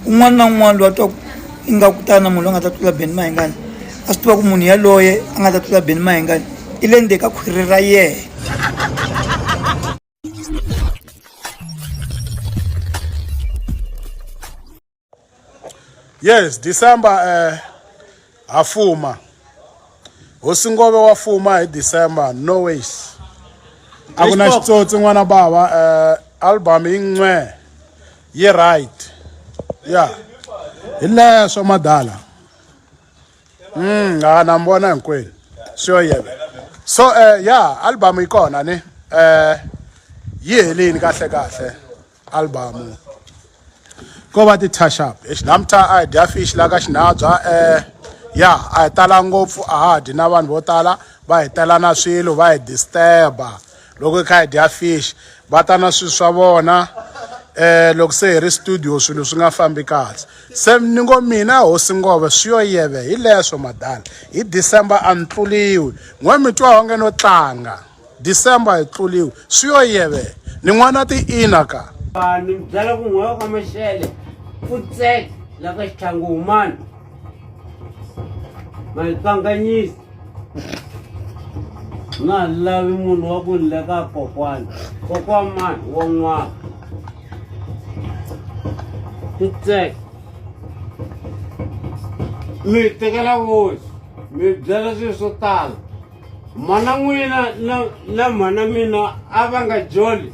un'wana na un'wana loyi a twaku ingaku tana munhu loyi a nga ta tlula beni mahingani a swi tiva ku munhu yaloye a nga ta tlula beni mahingani i le ndzeni ka khwiri ra yena yes december eh ha fuma hosi ngove wa fuma hi december no ways a ku na Respect. xitsotsi n'wana bava eh album yi ncwe yi right ya hi leswo madala mm ha na mi vona hinkwenu swi yo yeve so eh ya album yi kona ni eh yi helini kahle kahle album ko va ti touch up exinamta a hi dya fish la ka xinabya eh ya a hi tala ngopfu a ha dyi na vanhu vo tala va hi tela na swilo va hi disturba loko hi kha hi dya fish va ta na swilo swa vona eh loko se hi ri studio swilo swi nga fambi kahle se ni ngo mina hosi ngove swi yo yeve hi leswo madala hi december a ni tluliwi n'we mi twa onge no tlanga December hi tluliwi swi yo yeve ni n'wana ti ina ka ni mi byela ku n'we wa ka maxele ku tseka la ka xitlhangu humani ma hi kanganyisi na ha lavi munhu wa ku ni le ka kokwana kokwa mani wa n'wana ku tseka mi hi tekela vosi mi hi byela swilo swo tala mhana n'wina na na mhana mina a va nga joli.